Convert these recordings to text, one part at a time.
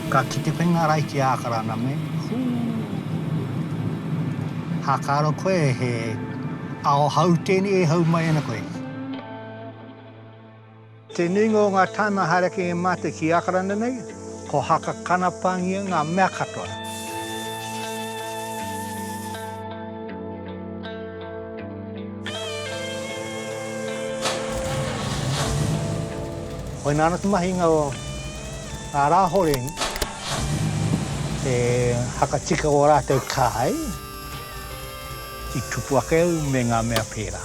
Ka kite koe ngā rae ki Ākarana me, hū! Hākaro koe he ao hau tēnei e hau mai ana koe. Te nuinga o ngā tāima haere ake e mātou ki Ākarana nei, ko haka kana pāngia ngā mea katoa. Koina ana te mahinga o ngā rāhoreng e whakatika o rātou kai i tupu ake au me ngā mea pērā.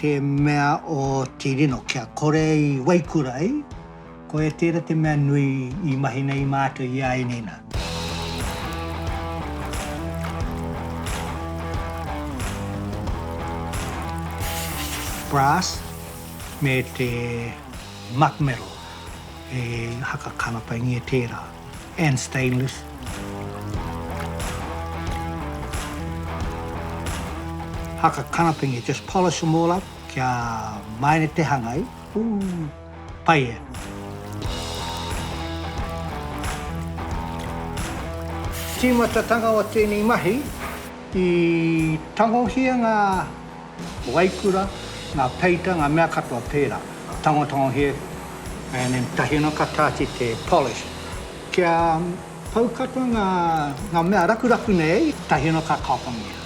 Te mea o te rino kia kore i waikura ai, koia tera te mea nui i mahi nei mātou i a ēnei nā. Brass me te Muck Metal, e haka kanapaingia tērā. and stainless. Haka kanapingi, just polish them all up kia maere te hanga i. Ooh, pai e. Tīmatatanga o tēnei mahi, i tangohia ngā Waikura, ngā peita, ngā mea katoa pērā. Tangotango here, and then tahi anō ka tāti te polish. Kia pau katoa ngā, ngā mea rakuraku nei, tahi anō ka kapangia.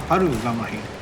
Paru ngā mahi.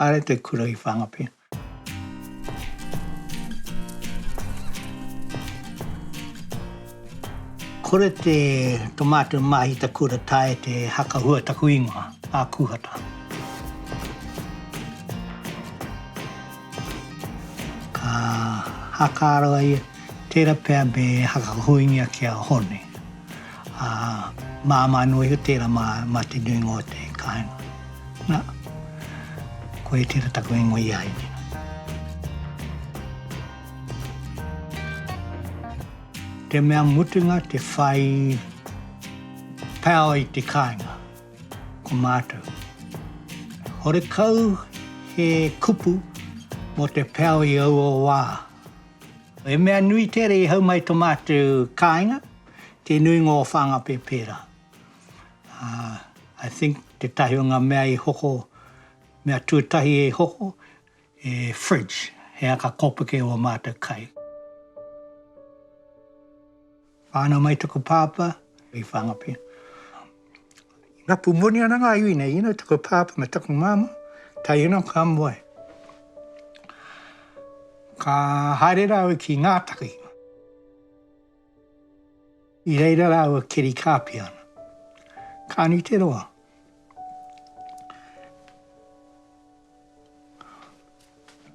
Haere te kura i Whangape. Kore te to mātou māhita kura tae te haka hua taku ingoa, a Kuhata. Ka haka aro ai, tera pea me haka huingia ki a Hone. Ā, māmā anō iho tērā mā, mā te nuinga o te kāinga. Nā, koia tērā taku ingoa i a au nei. Te mea mutunga te whai power i te kāinga, ko mātou. Horekau he kupu mō te power i aua wā. He mea nui tērā i hau mai tō mātou kāinga. te nuinga o Whangape pērā. I think tētahi o ngā mea i hoko, mea tūtahi i hoko, he fridge, he aka kōpuke o ō mātou kai. Whānau mai taku pāpā i Whangape. Rapu moni ana ngā iwi nei, you know, taku pāpā me taku māmā, taiena ka moe. Ka haere rāua ki Ngātaki. I reira rāua keri kāpia ana. Kāni te roa.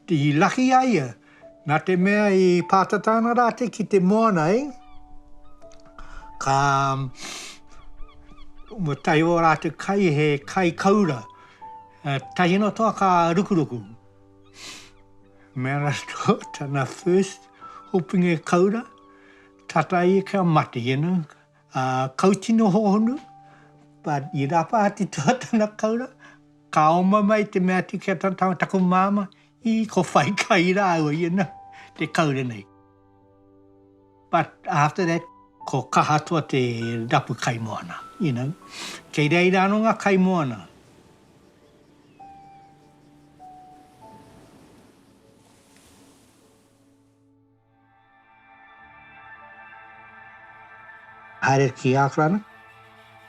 I laki a ia, nā te mea i pātata ana rātou ki te moana, ē, ka, mo tahi o rātou kai, he kai kaura, tahi noa toa ka rukuruku. Me rātou tana first hoping e kaura, tata ia kia mate, you know, ā, kau tino hohonu, but i rapa atu toa tana kaura, ka oma mai te mea atu ki a tana tama, taku māmā, ī, ko whai kai rāua, you know, te kaura nei. But after that, ko Kahatoa te rapu kaimoana, you know. Kei reira ano nga kaimoana. Haere ki Auckland.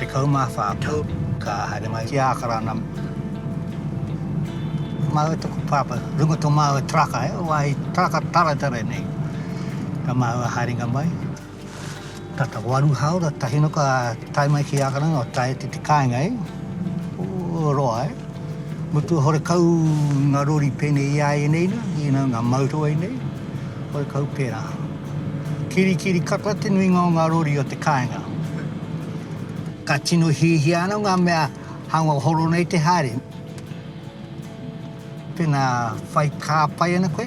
Tekau mā whā tau ka haere mai ki Ākarana. Māu e taku pāpā, runga tō māua taraka, he wāhi taraka taretare nei. Ka māua haerenga mai. Tata o aru haora tahi no ka tae mai ki Akaranga o tae te te kainga e o roa e mutu hore kau nga rori pene i a e nei na i na nga mauto e nei hore kau pera kiri kiri kata te nuinga o nga rori o te kainga ka tino hihia ana nga mea hanga horo nei te haere. Tēnā, whai kā pai ana koe?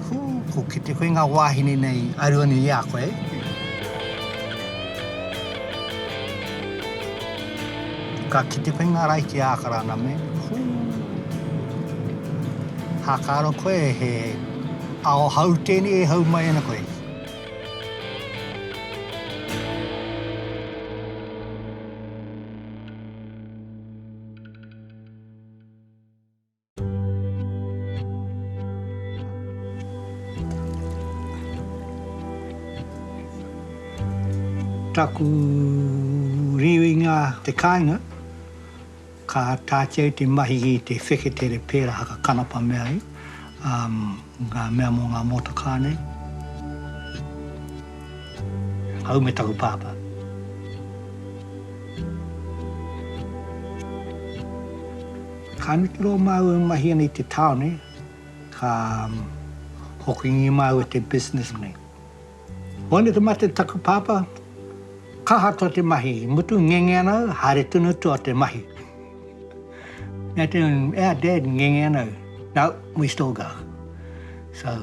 Hū, ko kite koe ngā wāhine nei i aru ana i a koe. Ka kite koe ngā rae ki Ākarana me, hū, hākāro koe he ao hau tēnei e hau mai ana koe. Taku riuinga te kainga, ka tāteu te mahi i te wheketere pēra haka kanapa mea i. Ngā mea mō ngā mōtakā nei. Au me taku pāpā. Ka neke loa māu e mahia nei te tāone, ka hokingia māu e te business nei. Waina te mate taku pāpā, kaha tua te mahi, i mutu ngenge ana au, haere tonu tua te mahi. Nā te un, our dad ngenge ana au, no, we still go. So,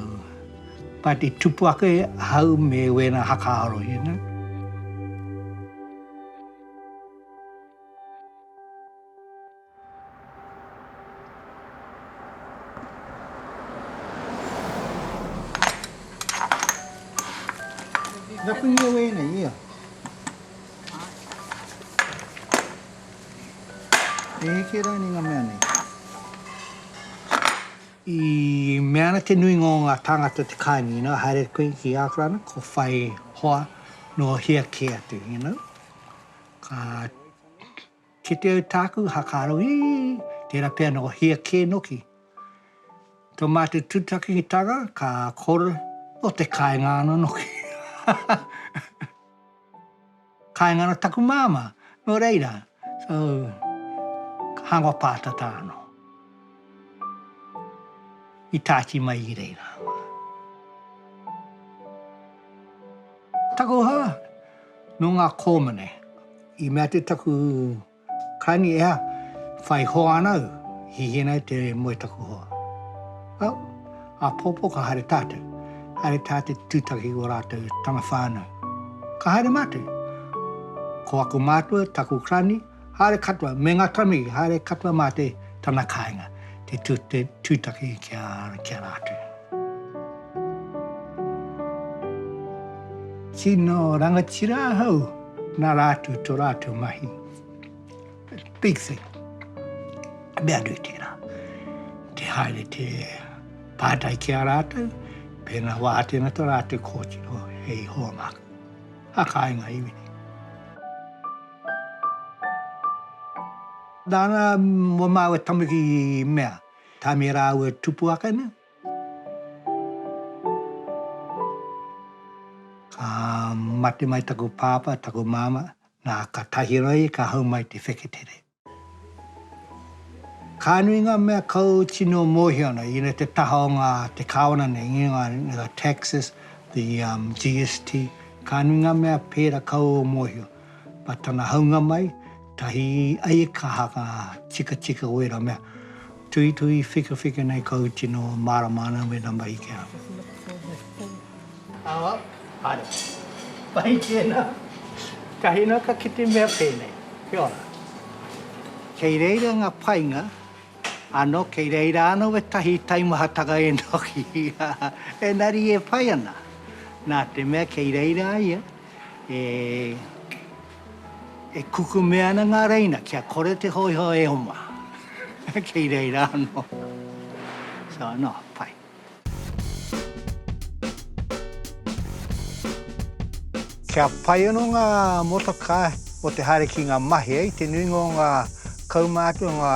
pāti tupu ake ahau me wēnā haka aro, you know. I mea ana te nuinga o ngā tāngata o te kāinga, you know, haere atu koe ki Ākarana, kua whai hoa nō hea kē atu, you know. Ka. Ki te au tāku hakaaro, ii, tērā pea nō hia kē noki. Tō mātou tutakitanga ka kore nō te kāinga ana noki. kāinga ana taku māmā, nō reira, so, hānga pātata anō. I tāti mai i reira. Takoha nō ngā kōmine. I mea te taku kani ea, whai hoa ana au, hihi nei te moe taku hoa. Well, āpōpō ka haere tātou. Haere tātou tūtaki o rātou tana whānau. Ka haere mātou. Ko aku mātua, taku kani, Haere katoa, me nga tamahi, haere katoa ma te tana kainga, te tu, te tutaki ki a, ki a ratou. Tino rangatira ahau, na ratou to ratou mahi. Big thing. Mea nui tera. Te haere te patai ki a ratou, pena wa atena to ratou kotiro, hei hoa maku. Ha kainga iwi. Nana mo mau e tanuki mea tame raua tupu ake ne. Ka mate mai taku papa taku mama na ka tahi roi ka hau mai te wheketere. Ka nui nga mea kau tino mohio ana ina te taha o nga te kawana nei ngi nga the taxes the GST ka nui nga mea pera kau o mohio. Ma tana haunga mai, tahi ai e ka haka tikatika o era mea. Tuhituhi whikawhika nei ka u tino marama ana me na mahi kia. Awa, haere. Mahi tena. Ka hina ka kite mea penei. Kia ora. Kei reira nga painga, ano kei reira ano etahi taimahatanga enoki. Enari e pai ana. Na te mea kei reira ia. E e kukume ana ngā reina kia kore te hōiho e oma. Kei reira anō. So anō, pai. Kia pai anō ngā motokā o te haere ki ngā mahi, i te nuinga o ngā kaumātua, ngā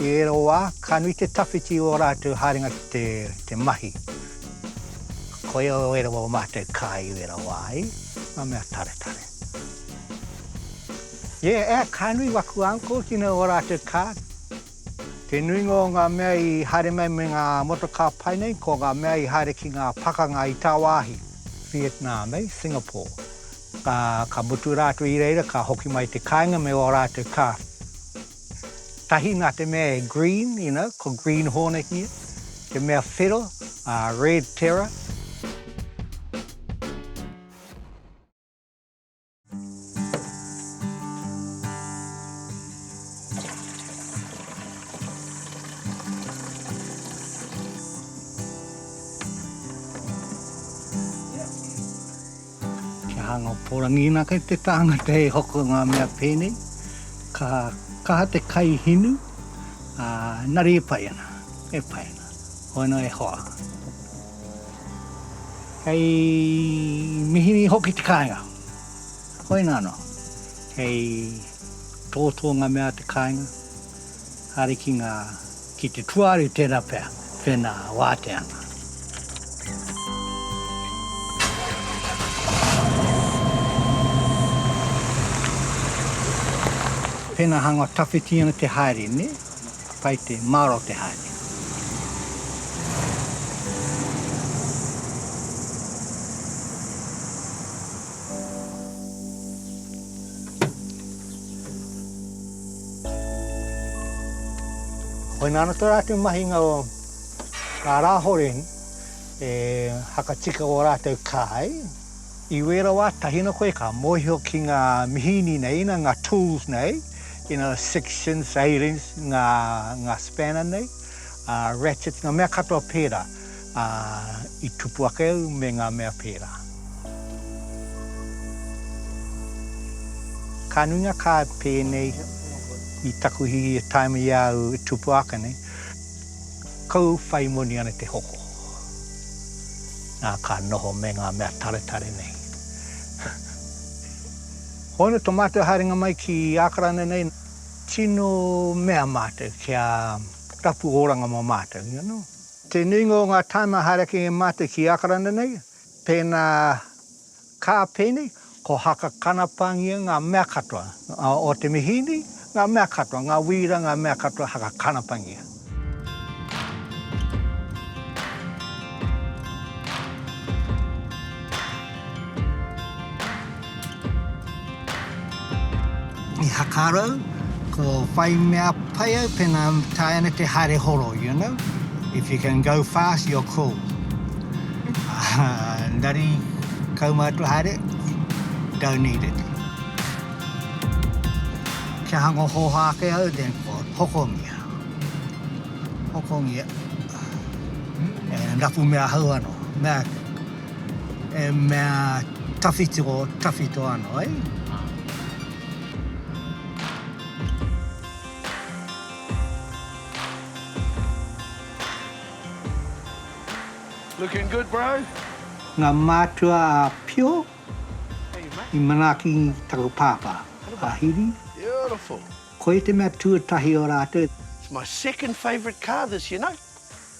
i ērā wā, ka nui te tawhiti i ō rātou haerenga ki te mahi. Koia o ērā o mātou kai o ērā wā ai, ngā mea taretare. Yeah, eh, ka nui waku uncle ki nau o rātou ka. Te nuinga o ngā mea i haere mai me ngā motokā pai nei, ko ngā mea i haere ki ngā pakanga i tāwāhi, Vietnam, eh, Singapore. Ka, ka mutu rātou i reira ka hoki mai te kāinga me o rātou ka. Tahi nā te mea e green, you know, ko green hornet ia, te mea whero, a red terror. Kia hanga o Porangi. Ina kei te tāngata e hoko ngā mea pēnei, ka kaha te kai hinu, ā, engari e pai ana, e pai ana. Hoena e hoa. Kei mihini hoki te kāinga. Hoena anō, kei tōtō ngā mea a te kāinga. Haerekinga ki te tuari tērā pea tēnā wāteana. Tēnā hanga tawhiti ana te haere, nē? Pai te mārō te haere. Koina ana tērā te mahinga o ngā rāhore e whakatika o rātou kai. I wēra wā, tahina koe ka mōhio ki ngā mihini nei, ina ngā tools nei, ina sixths, eighteenths, ngā spanner nei, ratchets, ngā mea katoa pērā. Ā, i tupu ake au me ngā mea pērā. Ka nui ngā kāi pēnei i taku hihi e taima i a au e tupu ake nei, kou whai moni ana te hoko. Nā, ka noho me ngā mea taretare nei. Hono to mātou haerenga mai ki Ākarana nei, tino mea mātou kia rapu oranga mo mātou, you know. Te nuinga o ngā tāima hārakinga i mate ki Ākarana nei, pēnā kā pēnei, ko Haka Kanapāngia ngā mea katoa, o Te Mihīni ngā mea katoa, ngā wīra ngā mea katoa Haka Kanapāngia. I hakarau, ko whai mea pai au pena tae ana te haere horo, you know, if you can go fast, you're cool. Engari, kaumātua haere, don't need it. Kia hango hōhā ake au, then hokongia, hokongia, and rapu me ahau anō. E mea tawhiti o tawhito ano ai. Looking good bro. Nga mātua a Pio i manaaki taku pāpā, a Hiri. Beautiful. Koia te mea tuatahi o rātou. It's my second favourite car this year, no?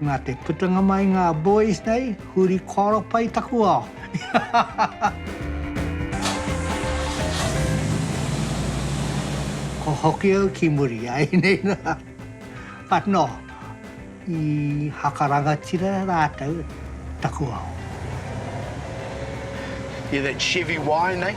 Nā te putanga mai ngā boys nei, huri kōro pai taku ao. Ko hoki au ki muri, ainei nā. But nō, i haka rangatira rātou taku ao. Hear that Chevy whine, eh?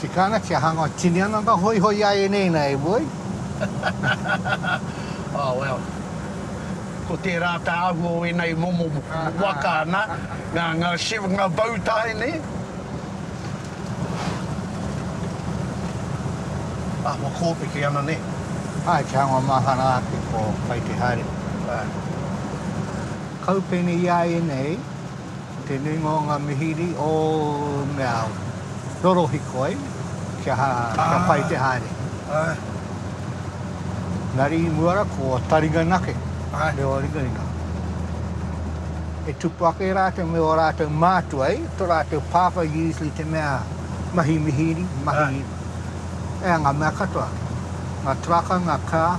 Tika ana kia hanga tini ana nga hoihoi a enei na e Woi. Oh well. Ko tera ta ahua o enei momo waka na, nga nga shiv nga bow tie ne? Ahua kopeke ana ne? Ae kia hanga mahara ake ko pai te hare. Ae. Kaupene ia enei. Tēnei mō ngā mihiri o mea rorohiko ai kia pai te haere. Nari i mua ra ko taringa nake me o ringaringa. E tupu ake ratou me o ratou mātua i to ratou pāpā usually te mea mahi mihiri, mahi ea nga mea katoa. Nga traka, nga car.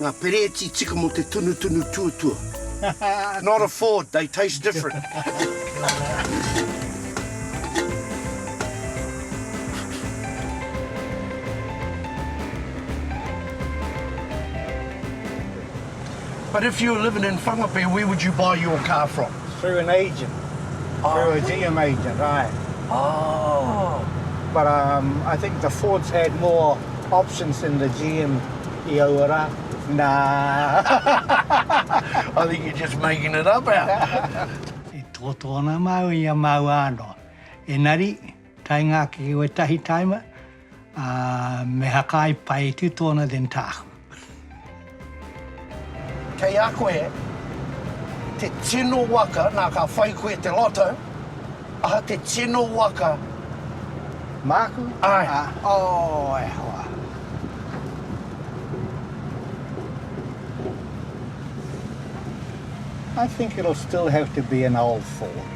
Nga pereti tika mo te tunutunu tuatua. Not a Ford, they taste different. But if you were living in Whangape, where would you buy your car from? Through an agent. Oh, through a GM agent, aye. Oh. But um, I think the Fords had more options than the GM i aua rā. Nā. I think you're just making it up out. I tōtō ana māu i a māua anō. Engari, Taenga ake ki wetahi taima, a me hakai pai tu tona than taku. Kei a koe te tino waka, na ka whai koe te lotto, aha te tino waka? Maku? Ai. Oh, e hoa. I think it'll still have to be an old Ford.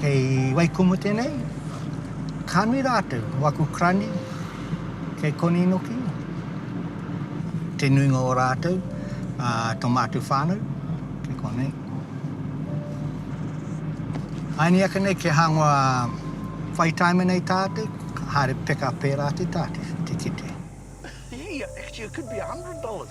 Kei Waikumu tenei, ka nui ratou, ko aku krani kei Koninoki, te nuinga o ratou, a to matou whanau kei konei. Aini ake nei kia hangoa whai taime nei tatou, haere peka pera atu tatou te kite. Hei, actually it could be a hundred dollars.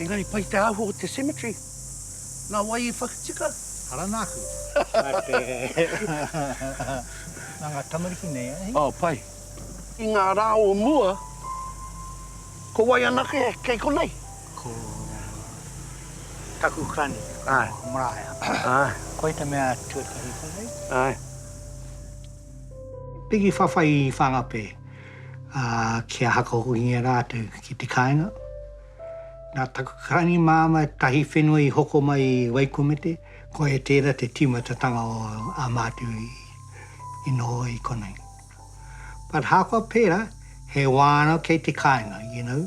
Engari pai te āhua o te cemetery. Nā wai i whakatika? Ara nāku. Nā ngā tamariki nei, ā hei? Oh, pai. I ngā rā o mua, ko wai anake kei konei? Ko taku kani, ko Maraea. Koia te mea tuatahi konei. Piki whawhai i Whangape. ā, kia hakahokingia rātou ki te kāinga. Nā taku kāni māmā tahi whenua i hoko mai i Waikumete, koia tērā te tīmatatanga o ā mātou i noho i konei. But ahakoa pērā, he wā anō kei te kāinga, you know.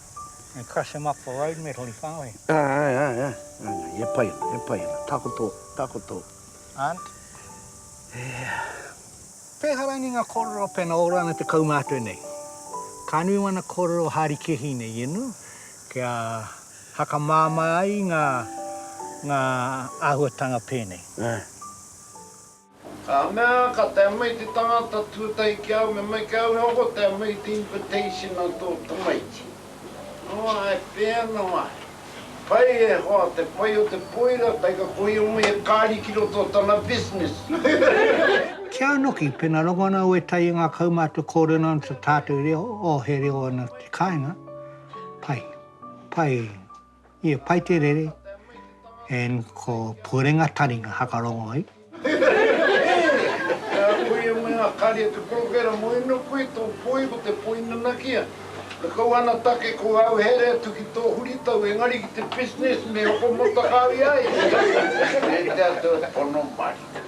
And crush them up for road metal i whāngai. Āe, āe, āe, āe, he pai ana, he pai ana, takoto, takoto. Aunt. Pēhā rānei ngā kōrero pēnā ora ana te kaumātua nei? Ka nui wana kōrero hārikehi nei i inu, kia hakamāmā ai ngā, ngā āhuatanga pēnei. Āe. Ka mea, Ka tae mai te tangata tuatahi ki au, me mai ki au he hoko, tae mai te invitation a tō tamaiti. Noa, e pēnā ai. Pai e hoa, te pai o te poira, kai ka kohia mai he kāri ki roto o tana business. Kia noki, pena rongo ana au e tai i ngā kaumātua kōrero ana te tātou reo, oh he reo ana te kāinga, pai, pai, He pai te rere and ko Purenga Taringa hakarongo ai. Hehehehehe! Koia e mea a Karia te Porowhera, moe anō koe, tō poi ko te poi nanakia. Ko kou anatake ko au here atu ki tō huritau engari ki te business me hoko motakāwia ai. Nē te ata pono marika.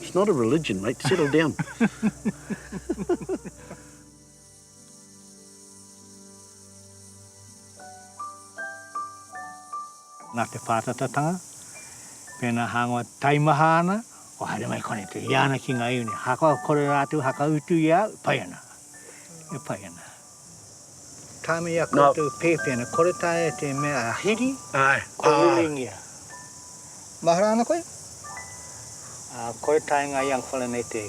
It's not a religion, mate. Settle down. Nā te pātatatanga, pēnā hāngai taimaha ana, o haere mai kone te ia ana ki ngā iwi nei. Ahakoa kore rātou hakautu i a au, pai ana, e pai ana. Time i a koutou pēpi ana, kore taea te mea a Hiri, kua ruruingia. Mahara ana koe? Kore taenga i a Ngawhana nei te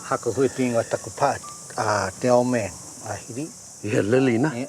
haka huipi ingoa taku pa, a te old man, a Hiri. I a Lily na? Yeah.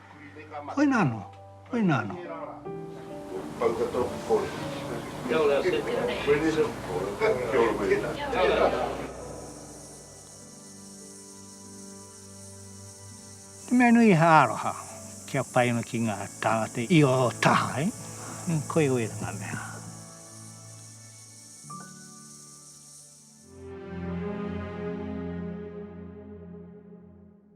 Koina anō, koina anō. He mea nui he aroha kia pai ana ki ngā tāngata i ō taha, ē? Koia wērā ngā mea.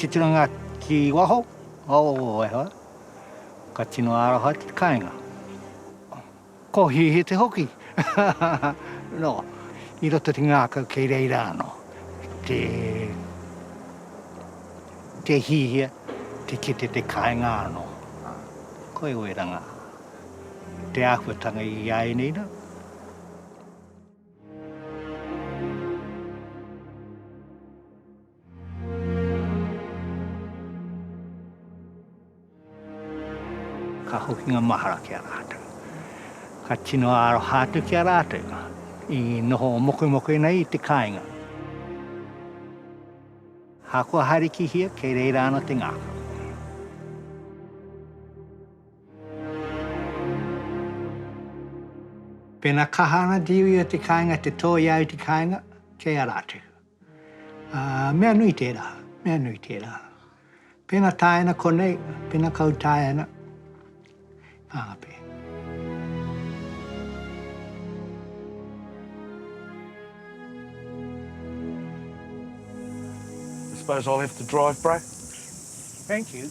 Titanga ki waho, oh e hoa, ka tino aroha ki kainga. Ko hihete hoki, no, i roto te ngakau kei reira ano te te hihia, te kite te kainga ano. Koe oe ranga, te ahuatanga i a enei rau. Ka hokinga mahara ki a rātou. Ka tino aroha atu ki a rātou i noho mokemoke nei i te kāinga. Hākua haere ki hia, kei reira ana te ngākau. Pēnā kaha ana te iwi o te kāinga te tōia ai te kāinga, kei a rātou. Ā, mea nui tērā, mea nui tērā. Pēnā taea ana konei, pēnā kau taea ana, āpe. I suppose I'll have to drive, bro? Thank you.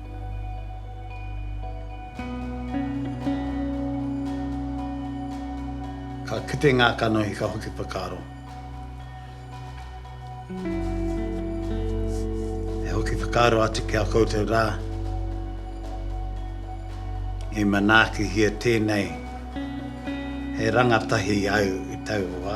Ka kite ngā kanohi ka hoki whakaaro. E hoki whakaaro atu ki a koutou rā, i manaakihia tēnei he rangatahi au i taua wā.